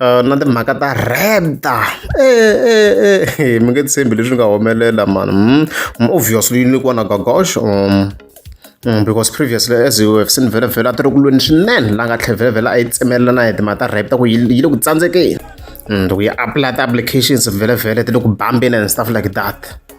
na timhaka ta rhenta e e e e mi nge tshembi leswi nga humelela mani hmm? obviously yi nyikiwa na gogosh um Mm, because previously as you have seen vhele vhele a ti ri ku lweni swinene la nga tlhe vhele vhele a yi tsemelela na hi timhaka ta rap ta ku yi le ku tsandzekeni mm, loko yi apply ti-applications vhele vhele ti le ku bambeni and stuff like that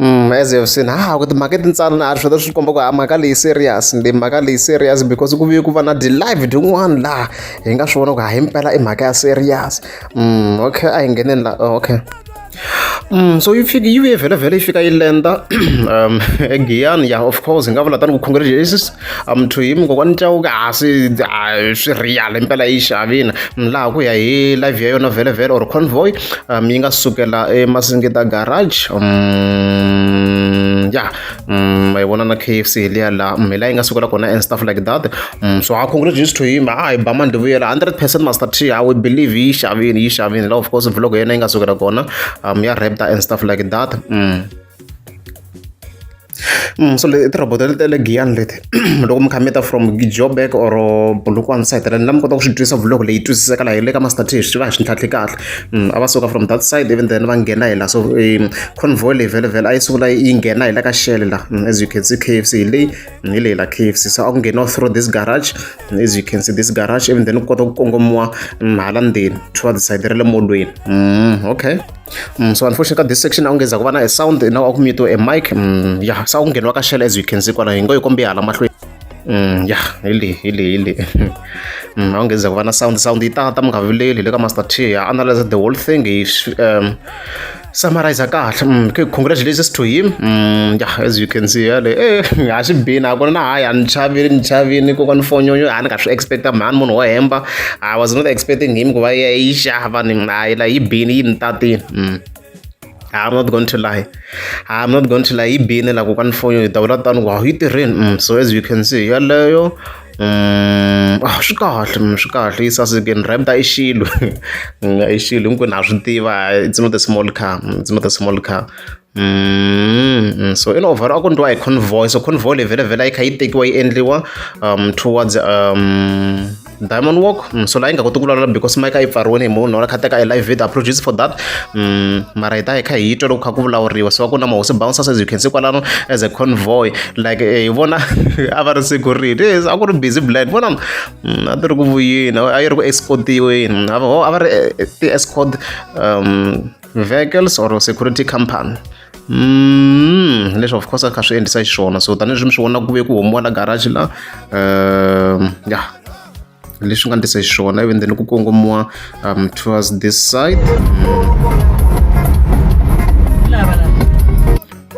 Mm, as you have seen ha ku timhaka tintsanana a ri swota swi komba ku ha mhaka leyi serious ndi mhaka leyi serious because ku vuye ku va na delive tin'wana laha hi nga swi vona ku ha hi mpela i mhaka ya serious mm, okay a hi ngeneni la oh, okay Mm, so yi fika yi vuye vhele vhele yi fika yi lenda um egiyani ya of course hi nga vula tani ku congratulations um to him kokwani chauke a swi swi real impela yi xavini mm, laha ku ya hi live ya yona vhele vhele or convoy um yi nga sukela emasingita garage um ya mm, ma yi vona na k f c hi liya laha mm, hi laha yi nga sukela kona and stuff like that mm, so ha congratulations to him a hi ba mandi vuyela 100 percent master t ha we believe yi xavini yi xavini la of course vlog yena yi nga sukela kona um, ya rapta and stuff like that mm. Mm, so le tirhoboto leti le giyani leti loko mi kha mi ta from joburg or polokwane side rani la mi kota ku swi twisisa vlog leyi twisiseka laha le ka master t hi swi tiva hi swi ntlhatlhi kahle mm, a va suka from that side even then va nghena hi la so um, convoy leyi vhele vhele a yi sungula yi nghena hi la ka shele la mm, as you can see kfc hi leyi mm, hi leyi la kfc so a ku ngheniwa through this garage as you can see this garage even then ku kota ku kongomiwa hala ndzeni towards side ra le molweni okay Mm, so unfortunately ka this section a wu ngeza ku va na e sound na a ku mute e mic mm, ya sa ku ngheniwa ka shela as you can see kwala hi ngo yi kombe hala mahlweni mm, ya hi leyi hi leyi hi leyi mm, a wu ngeza ku va na sound sound yi tata mi nga vileli le ka master t ya analyze the whole thing hi um, summarize kahle mm, okay, congratulations to him mm, yeah, as you can see yale eh a swi bini a kona na hayi a ni chavile ni chavile kokwa ni fonyonyo a ni nga swi expecta mhani munhu wo hemba I was not expecting him ku va yi xava ni hayi la yi bini yi ni tatini mm. I'm not going to lie. I'm not going to lie. Ibine la kokwana phone yo dawula tano wa yi tirheni. Mm, so as you can see, yaleyo mm, ah swi kahle mm, swi kahle yi sasekeni raptor i xilo i xilo hinkwenu ha swi tiva it's not a small car it's not a small car Mm, so in over a ku ndwa hi convoy so convoy leyi vhele vhela yi kha yi tekiwa yi endliwa um towards um diamond walk mm, so laha yi nga koti ku vulavula because mike a yi pfariweni hi munhu ora kha teka i live video apologies for that mm, mara yi ta hi kha hi twa loko kha ku vulavuriwa so va ku na mahosi bouncers as you can see kwalano as a convoy like eh, hi vona a va ri siku rili a ku ri busy blind vona mm, a ti ri ku vuyini a yi ri ku escortiweni a va ri eh, ti-escort um vehicles or security company mm, leswi of course a kha swi endlisa xiswona so tanihileswi mi swi vona ku ve ku homiwa la garage la um ya leswi nga endlisa xiswona even then ku kongomiwa um towards this side mm.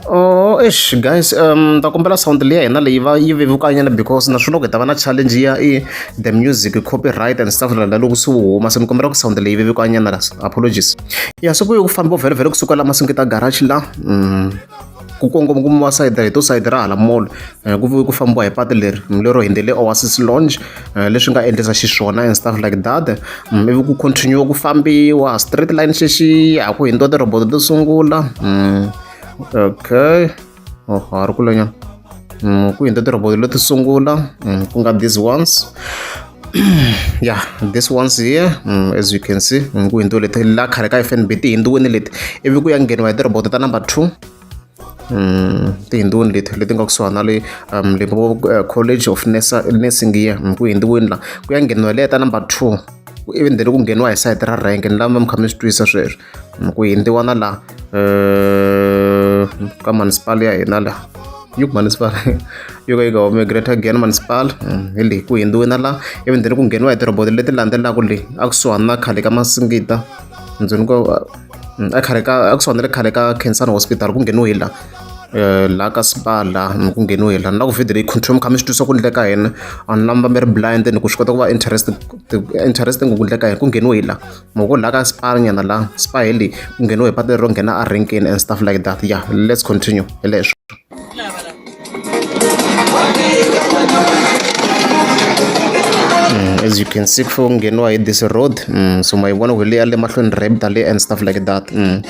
Oh, eish guys um ta kombela sound leyi ya hina leyi va yi vevukanyana because na swi loko hi ta va na challenge ya i the music copyright and stuff like that loko se wu huma se ni kombela ku sound leyi vevukanyana la apologies ya se ku yo ku famba vhele vhele kusuka la masingi ta garage la mm ku kongoma ku miwa side hi to side ra hala mall ku ku fambiwa hi patu leri lero hindzele oasis lounge eh, leswi nga endlisa xiswona and stuff like that mm, ivi ku continue ku fambiwa straight line xexiya ku hindwa tiroboto to sungula mm, okay oh ha ri kulanyana mm, ku hindwa tiroboto leti sungula ku nga these ones yeah this one's here mm, as you can see mm, kuyinto leti la khale ka fnb ti hindzuwini leti ivi ku ya ngheniwa hi tiroboto ta number two um tiyindlwini leti leti nga kusuhana le um limpopo eh, college of nursing year hmm, ku yindliwini la ku ya ngheniwa le ta number two ivi ndele ku ngheniwa hi sayiti ra rhenke ni lama mi kha mi swi twisa sweswo hmm, ku yindliwa na laha eh, ka municipal ya hina laha yuk municipal yo ka yi nga humi greater gan municipal hmm, hi leyi ku yindliwe na laha ivi ndele ku ngheniwa hi tiroboti leti landzelaka leyi a kusuhani na khale ka masingita ndzeni ko a khale ka a kusuhani na le khale ka khensani hospital ku ngheniwe hi la um laha ka sipala ku ngheniwe hi la ni la ku video leyi control mi kha mi swi twisa ku ndleka yena a ni lamba mi ri blind ni ku swi kota ku va interest interesting ku ndleka yena ku ngheniwe hi la moko laha ka sipala nyana la spa hi leyi ku ngheniwe hi patu leri ro nghena a renkeni and stuff like that yeah let's continue hi leswo Mm, as you can see ku ngheniwa hi this road mm, so ma yi vona ku leya le mahlweni rabda le and stuff like that mm.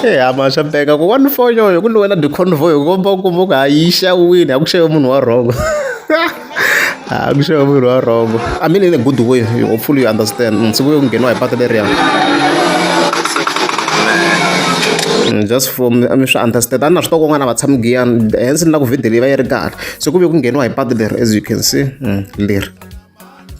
e hama swa mpeka ku one fonyo yo ku ni wena diconvoy hi komba u kuma ku ha yi xawini ha ku xave munhu wa wrong Ah, ku xava murhi wa wrong i mean in a good way hopefully you understand Mm, siku yo ku ngheniwa hi patu leriya Mm, just for mi mi swi understand a ni na swi toko n'wana va tshami giyani hence ni la ku video leyi va yi ri kahle se ku ve ku ngheniwa hi patu leri as you can see mm, leri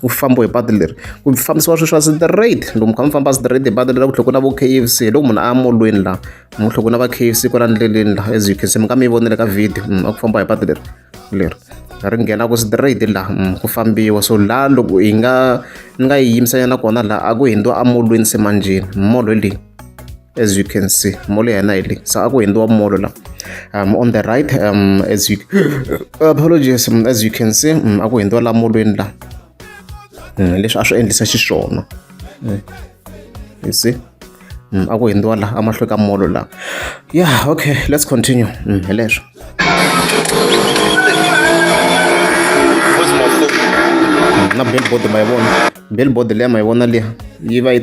ku fambiwa hi patu leri ku fambisiwa swilo swa straight loko mi kha mi famba straight hi patu leri ku tlhela ku na vo k f c loko munhu a ya molweni laha mu tlhela ku na va k f c kwala ndleleni laha as you can see mi nga mi yi vonele ka video Mm, a ku fambiwa hi patu leri leri ri nghena ku straight laha mm, ku fambiwa so laha loko hi nga ni nga yi yimisanyana kona laha a ku hindwa emolweni semanjeni molo hi leyi as you can see molo ya hina hi leyi so a ku hindwa molo laha um, on the right um, as you apologies um, as you can see um, a ku hindwa laha molweni laha mm, leswi a swi endlisa xiswona mm. you see mm, a ku hindiwa laha amahlweni ka molo laha yeah okay let's continue hi leswo na billboard ma yi vona billboard leya ma yi vona liya yi va yi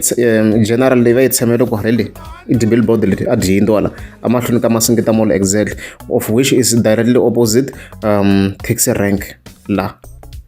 general leyi va yi tshamele ku hare leyi i ti-billboard leti a dyi yindwala emahlweni ka masingita mall exactly of which is directly opposite um taxi rank la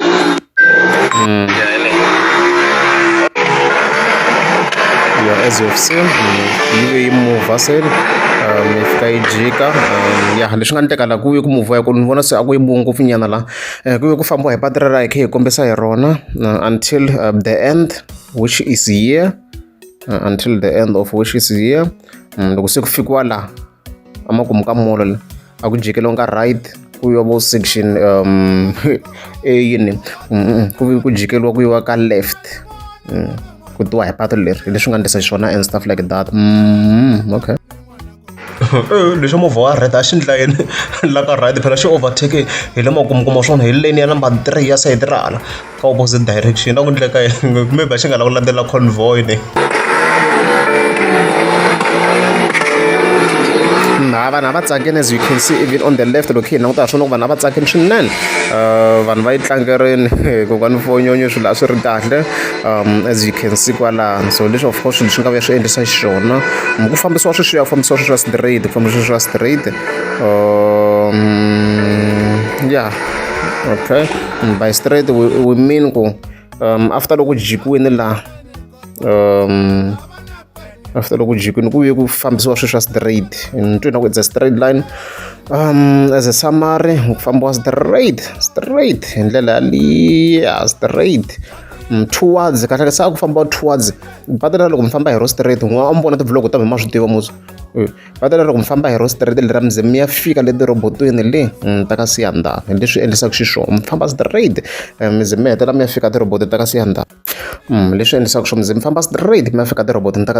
Mm. ya as you have seen yiyo yi mova se um yi fika yi jika um ya leswi nga ni teka la ku yi ku mova ya ku ni vona se a ku yi move ngopfu nyana la um ku yi ku fambiwa hi patri ra hi khe hi kombisa hi rona uh, until um, the end which is here uh, until the end of which is here um, loko se ku fikiwa la amakumu ka molo le a ku jikelonga right ku yiwa vo section um e yini ku ku jikeriwa ku yiwa ka left mm, ku tiwa hi pato leri hi leswi nga ndlisa xiswona and stuff like that mm, okay eh, lexo movha wa red a xi ndlayeni la ka right phela xi overtake hi le makumukuma swona hi leni ya number three ya sayiti ra hala ka opposite direction a ku ndleka maybe a xi nga lava ku landzela convoy ne na vanhu a va tsakini as you can see even on the left loko hi languta swona ku vanhu a va tsakini swinene uh, vanhu va yi tlangerini ku va ni fonyonyo swilo a swi ri kahle um, as you can see kwalano so leswi of course swilo swi nga vuya swi endlisa xiswona um, ku fambisiwa sweswiya ku fambisiwa sweswiya straight ku fambisiwa sweswiya straight um, yeah okay and by straight we, we mean ku um, after loko jikiwini la um, after loko jikwini ku ye ku fambisiwa sweswi swa straight nitwe na ku it's a straight line um as a summary ku fambiwa straight straight hi ndlela yaliya straight mm, towards kahle sa ku famba towards patu ra loko mi famba hi ro straight n'wana a mi vona tivhiloko ta mi ma swi tiva musi va ta loko mi famba hi ro straight le ra mi ze mi ya fika le dorobotweni le mm, ta ka siyandhama hi leswi endlisaka xiswona mi famba straight eh, mi ze mi hetela mi ya fika dorobotweni ta ka siyandhama mm, leswi endlisaka swona mi ze mi famba straight mi ya fika dorobotweni ta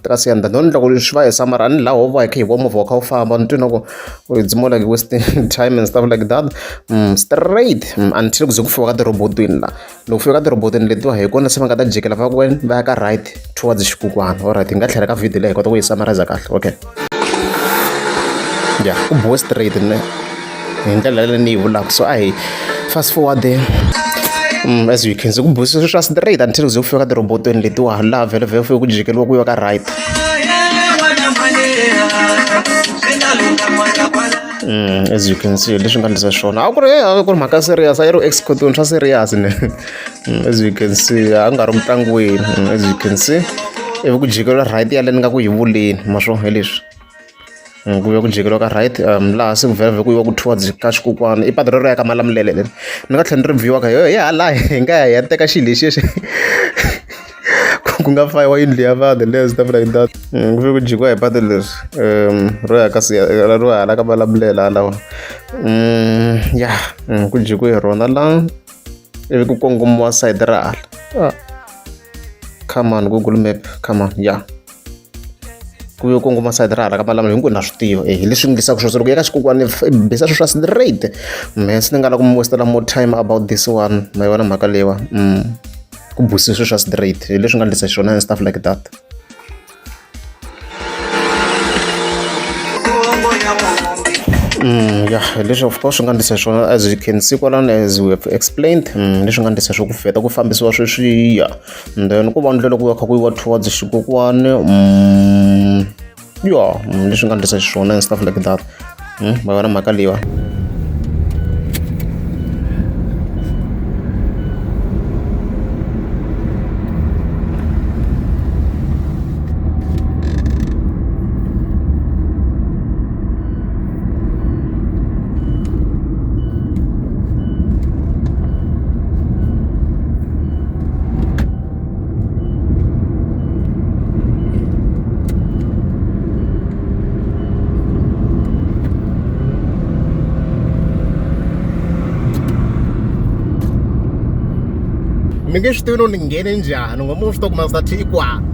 ka siyandhama noni loko swi va hi samara ni laha hova hi kha hi vo movha wa kha wu famba ni twi na ku it's more like wasting time and stuff like that mm, straight until ku ze ku fiwa ka dorobotweni la loko fika ka tirhobotini letiwa hi kona se va nga ta jikela va ku va ya ka right towards xikukwana all right hi nga tlhela ka video leyi hi kota ku yi summarize kahle okay ya ku bowe straight ne hi ndlela leyi ni yi vulaka so a hi fast forward there Mm, as you can see ku bowe swa straight until ku ze ku fika ka tirhobotweni letiwa laha vhele vhele fike ku jikeliwa ku yiwa ka right Mm, as you can see leswi nga ndlisa swona a ku ri eh, a ku ri mhaka serious a yi ri excoton swa serious ne mm, as you can see a nga ri mutlangwini mm, as you can see ivi ku jikeriwa right yale ni nga ku yi vuleni maswo hi leswi ku ve ku jikeriwa ka right um laha se ku vhela vhe ku yiwa ku towards ka xikukwana i patu rero ya ka malamulele leri ni nga tlhela ni ri vhiyiwa ka yoyo hi hala hi nga ya hi ya teka xilo lexi lexi ku nga fayiwa yindlu ya vanhu leyo stuff like that mm, ku ve ku dyiwa hi patu leri um ro ya ka ro hala ka vulavulela halawa um ya mm, ku dyiwe hi rona la ivi ku kongomiwa side ra hala ah, come on google map come on ya yeah. ku yo kongoma side ra hala ka malama hinkwenu na swi tiva hi leswi ndlisaka sweswo loko ya ka xikokwani i bisa sweswo straight mhesi ni nga la ku mi westela more time about this one ma yona mhaka leyiwa mm. ku busi sweswo straight hi leswi nga ndlisa xiswona and stuff like that Mm, yeah, leswi of course swi nga ndlisa swona as you can see kwalano as we have explained mm, leswi nga ndlisa swo ku feta ku fambisiwa sweswiya and then ku va ndlela ku va kha ku yiwa towards xikokwane mm, ya mm, leswi nga ndlisa xiswona and stuff like that mm, va va na mhaka leyiwa mi nge swi tivi no ni nghene njhani n'we mu swi to kuma swi ta thikwani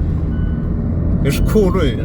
hi swikhulu hina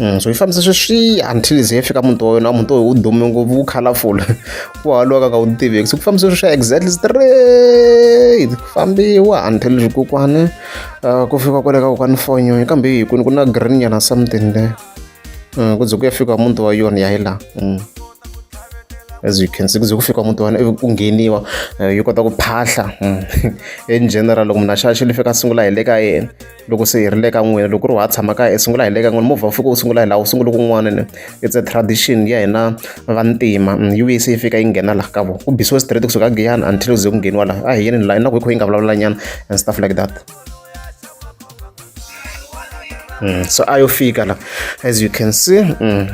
Mm, so yi fambisa sweswi until ze fika muti wa wena muti wa u dume ngopfu wu colorful ku halowa ka ka wu tiveki so ku fambisa sweswi exactly straight ku fambiwa until xikukwana uh, ku fika kwale ka kokwani fonyo kambe yi ku na green yana something there mm, ku ze ku ya fika muti wa yona ya hi laha mm. as you can see kuze kufika umuntu wena kungeniwa eh, yi kota ku phahla hmm. in general loko munhu a xaxile fika a sungula hi le ka yena loko se hi ri le ka n'wina loko ku ri wa ha tshama kaya i sungula hi le ka n'wina movha wu fika wu sungula hi laha wu sungula kun'wana ne it's a tradition ya hina vantima mm, yi vuye se yi fika yi nghena laha ka vona ku bisiwe straight kusuka giyani until ze ku ngheniwa laha a hi yeni laha na ku yi kho yi nga vulavulanyana and stuff like that mm, so a yo fika la as you can see mm.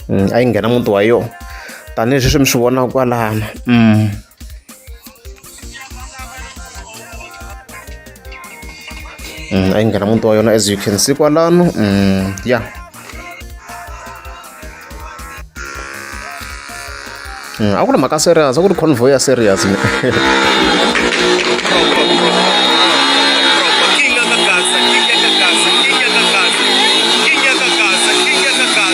Mm, a yi nghena muti wa yona tanihileswi mi swi vonaka kwalano mm. Mm, a yi nghena muti wa yona as you can see kwalano mm, ya mm, a ku ri mhaka serious a ku ri convoy ya serious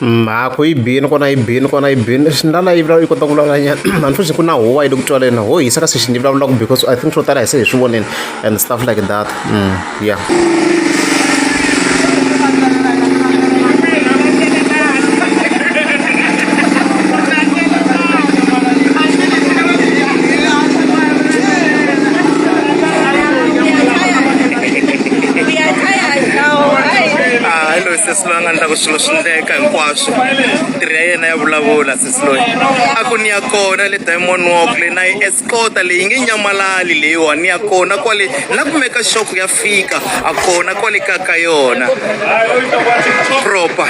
mhakho yi bini kona yi bini kona yi bini xindlala yi vulavula yi kota ku vulavulanyana unfortunately ku na huwa yi le ku tsaleni ho hisa ka se xi ni vulavulaka because i think swo tala hi se hi swi voneni and stuff like that mm, yeah hayi loyi sesi loyi a nga endlaka swilo swi ndleka hinkwaswo ntirho ya yena ya vulavula sesi loyi a ku ni ya kona le diamond walk leyi na yi escota leyi nge nyamalali leyiwa ni ya kona kwale la kumeka xoko ya fika a kona kwale ka ka yona proper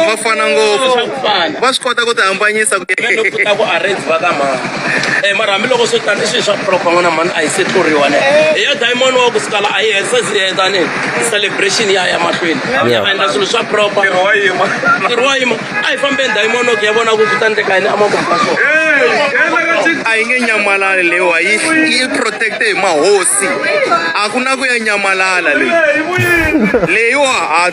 va fana ngopfu fana va swi kota ku ti hambanyisa ku pfuta ku arrange va ka mhani um eh, mara hambiloko swo tani i swilo swa propa n'wana mhani a yi se tluriwa ne hi ya diamond wa ku sukala a yi hesaziyetani celebration ya ya mahlweni ya endla swilo swa propa ntirho wa yima ntirho wa yima a yi fambeni diamond wa ku ya vona ku swi ta ndleka yini amakumba swona a yi nge nyamalali leyiwa yi yi protecte hi mahosi a ku na ku ya nyamalala leyi leyiwa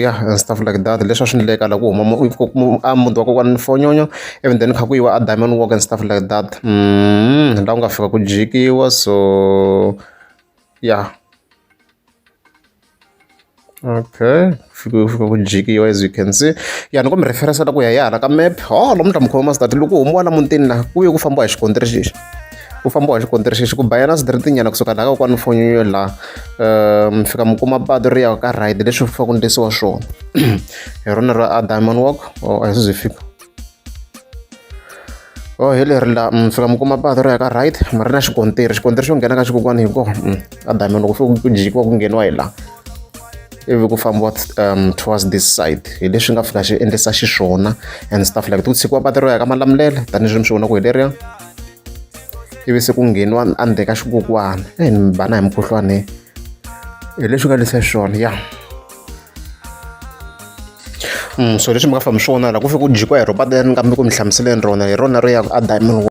ya and stuff like that leswi a swi endleka loko u huma mu ku mu a muti wa kokwana ni fonyonya ivi then kha ku yiwa a diamond walk and stuff like that la ku nga fika ku jikiwa so ya okay fika fika ku jikiwa as you can see ya ni ku mi referensa la ku ya ya hala ka map ho lomu ta mi khoma masitati loko u humiwa la mutini la ku ye ku fambiwa hi xikontiri xexi u famba wa xikontiri xexi ku bayana swidiritinyana kusuka laha ka kwani fonyo yo laha um ehm, fika mi kuma patu ri yaka ka right leswi fa ku ndlisiwa swona hi rona ra a diamond walk or oh, a hi swi fika o oh, hi leri la mi mm, fika mi kuma patu ri yaka right mi ri na xikontiri xikontiri xo nghena ka xikokwani hi ko mm, a diamond ku fika ku jikiwa ku ngheniwa hi laha ivi ku fambiwa um towards this side hi leswi nga fika xi endlisa xiswona and stuff like to tshikiwa patu ro yaka malamulele tanihileswi mi swi vona ku hi leriya ivi se ku ngheniwa endzeni ka xikokwana eyi ni bana hi mukhuhlwana hi leswi nga lisa xiswona ya mm, so leswi mi nga fambi swona laha ku fike ku dyikiwa hi rhobata leri ni kambe ku mi hlamuseleni rona hi rona ri ya a diamond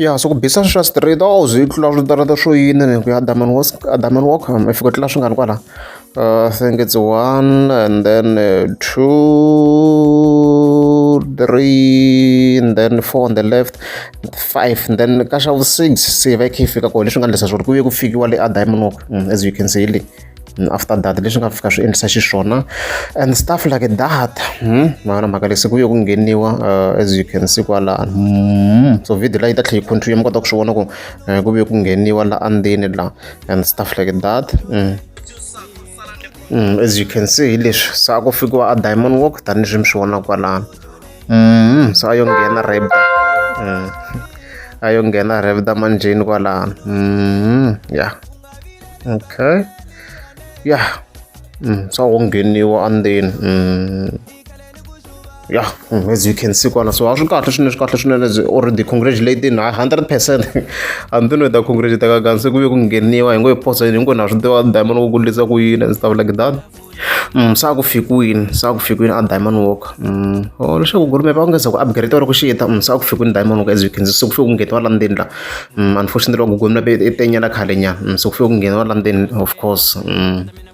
ya swi ku bisa swa straight a wu byi tlula switarata swo yini ni ku ya adamani was adamani walk um, i fika tlula swi nga ni kwala Uh, I think it's one, and then uh, two, three, and then four on the left, five, and then ka xa six se va khe yi fika kona leswi nga leswaku swi ri ku ye ku fikiwa le a diamond walk mm, as you can see le mm, after that leswi nga fika swi endlisa xiswona and stuff like that hmm, maana mhaka lesi ku ye ku ngheniwa uh, as you can see kwala hmm, so video la yi ta tlhe yi continue mi kota ku swi vona ku eh, ku ve ku ngheniwa la andzeni la and stuff like that mm. Mm, as you can see leswi se a ku fikiwa a diamond walk tanihileswi mi swi vona kwalano mm, se a yo nghena rabda mm. a yo nghena rabda manjheni kwalano mm, ya okay ya mm, se a wo ngheniwa andzeni mm. ya mm, as you can see kwana so a swi kahle swinene swi kahle swinene or the congratulating hi hundred percent a ndzi no ta congratulate ka kanti se ku ve ku ngheniwa hi ngo hi phosa yini hi ngo na swi tiva diamond wo kulisa ku yini and stuff like that mm, sa ku fikwini sa ku fikwini a diamond walk mm, oh, leswaku gurume va ngeza ku upgrade or ku xita mm, sa ku fikwini diamond walk as you can see se ku fike ku ngheniwa la ndzeni la mm, unfortunately wa gugumela e tenyela khale nyana mm, se ku fike ku ngheniwa la ndzeni of course mm.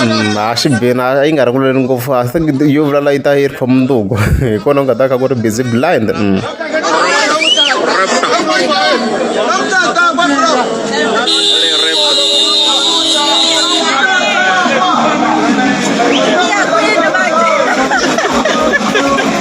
Mm, a swi bini a yi nga ri kulweni ngopfu i think yo vulala yi ta yi ri khoma nduku hi kona u nga ta ka ku ri busy blind mm.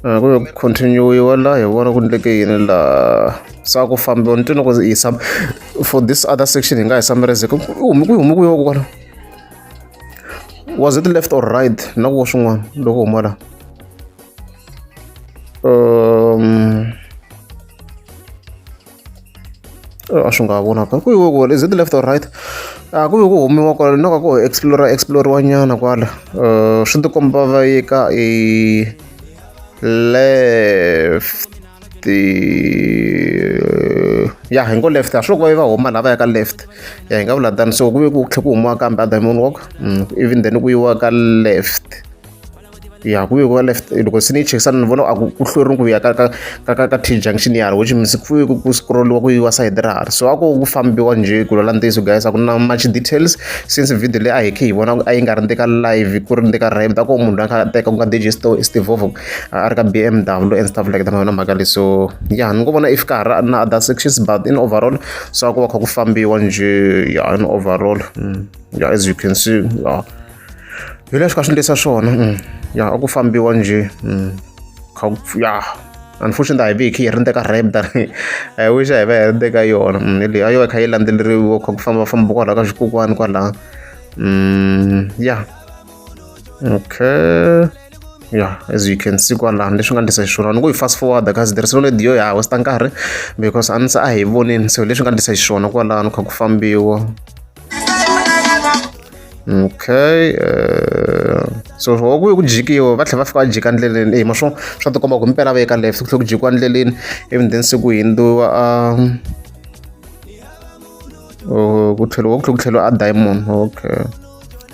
ku ku continue-iwa la hi vona ku endleke yini la sa ku fambiwa ni twini ku hi sam for this other section hi nga hi samereze ku humi ku humi ku yo kwala was it left or right na ku swin'wana loko huma la um a swi nga vonaka ku yiwe kwale is it left or right a ku ve ku humiwa kwale na ka ku explora exploriwa nyana kwala um swi tikomba va yi ka i left ya hi ngo left a swi loko va yi va huma laha va ya ka left ya hi nga vula tani so ku ve ku tlhe ku humiwa kambe a diamond walk even then ku yiwa ka left ya ku ve ku va left loko se ni yi chekisana ni vona a ku ku hlwerini ku ya ka ka ka ka ka t junction yari which means ku ve ku scrolliwa ku yiwa side ra hari so a ko ku fambiwa njhe ku lwela ntiyiso guys a ku na much details since video leyi a hi khe hi vona a yi nga ri ndeka live ku ri ndeka rap a ko munhu loyi a nga teka ku nga dj stivovo a ri ka bmw and stuff like that yona mhaka leyi so ya ni ngo vona if ka ha ri na other sections but in overall so a ku va kha ku fambiwa njhe ya in overall mm. ya as you can see ya hi leswi ka swi ndlisa swona mm. ya a ku fambiwa njhe mm. ya unfortunately a hi viki hi rindzeka rem tani i wish a hi va hi rindzeka yona mm, leyi a yo kha yi landzeleriwa kha ku famba famba kwalaho ka xikokwani kwalaho mm, ya okay ya as you can see kwalani leswi nga ndlisa xiswona ni ku yi fast forward kasi tirhiselo ledi yo ya westa nkarhi because a ni se a hi vonini so leswi nga ndlisa xiswona kwalano kha ku fambiwa okay eh, so loko ku yi ku jikiwa va tlhela va fika va jika ndleleni eyi ma swo swa tikomba ku mpela va ye ka left ku tlhela ku jikiwa ndleleni even then se ku hindiwa a um, oh, ku tlhelo wa ku tlhela ku tlhelo a diamond okay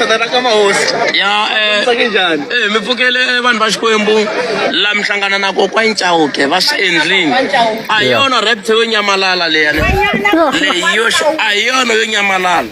chadara ka mahosi ya eh, tsake njhani eh mi pfukele eh, vanhu va xikwembu la mi hlangana na ko kwa ncawuke va swi endlini a hi yona rap yo nyamalala leyani leyi yo a hi yona yo nyamalala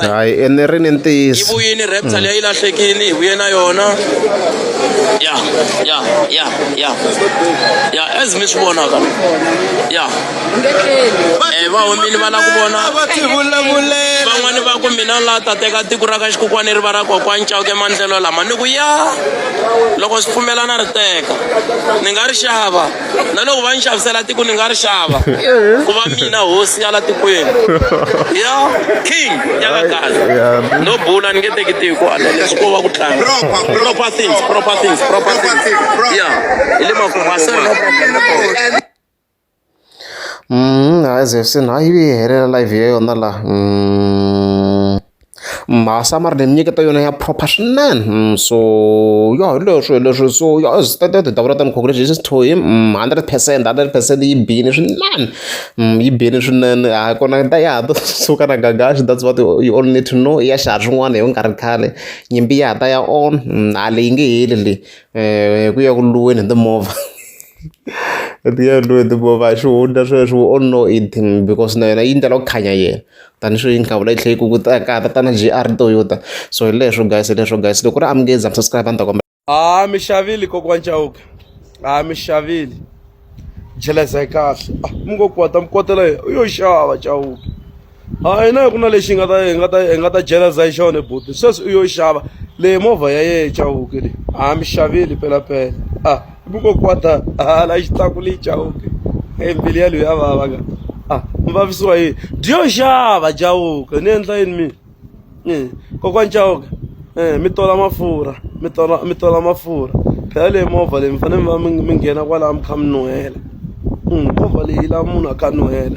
hayi ene ri ni ntiyiso vuyini repta leyi lahlekini hi vuye na yona ya ya ya ya ya as mi swi vonaka ya eh, va humile va lava ku vona van'wani va ku mina la ta teka tiko ra ka xikokwani ri va ra kokwani cawuke mandlelo lama ni ku ya loko swi pfumelana ri teka ni nga ri xava na loko va ni xavisela tiko ni nga ri xava ku va mina hosi ya la tikweni ya king ya ka kahle no bula ni nge teki tiko a leswi ko va ku tlanga proper things proper things proper things ya hi le makumu a sir no problem no problem Mm, as I've seen, I hear live here on the Mahasamar de minyiketa yona ya proper swinene so yo hi leswo leswi so yo tindhawu ta ta ni khongela Jesus to him hundred percent hundred percent yi bile swinene yi bile swinene ha kona ta ya ha to suka na Gagash that's what you all need to know i ya xiharhi swin'wana yo nkarhi khale nyimpi ya ha ta ya on a leyi nge heli leyi hi ku ya ku lweni hi timovha hi ku ya hi lweni hi timovha a xi hundza sweswo we all know it because na yona yi endlela ku khanya yena. tani swi nga vula yi tlhela yi ku ta ka ta tana G_R Toyota so hi leswo guys hi leswo guys loko ri amukeza mi subscribe ni ta kombela a mi xavile kokwani Chauke a mi xavile jeleza yi kahle a mi ngo kota mi kotela u yo xava Chauke a hina ku na lexi nga ta hi nga ta hi nga ta jeleza hi xona buti sweswi u yo xava leyi movha ya yehe Chauke leyi a mi xavile pelapela a muko kwata hala xitakuli chauke e mbili ya loyi a vava nga ah mi vavisiwa yini dyo xava chauke ni endla yini mina Eh, kokwani chauke eh, mi tola mafurha mi tola mi tola mafurha phela leyi movha leyi mi fanele mi va mi mi nghena kwalaya mi kha mi nuhela Mm, movha leyi la munhu a kha a nuhela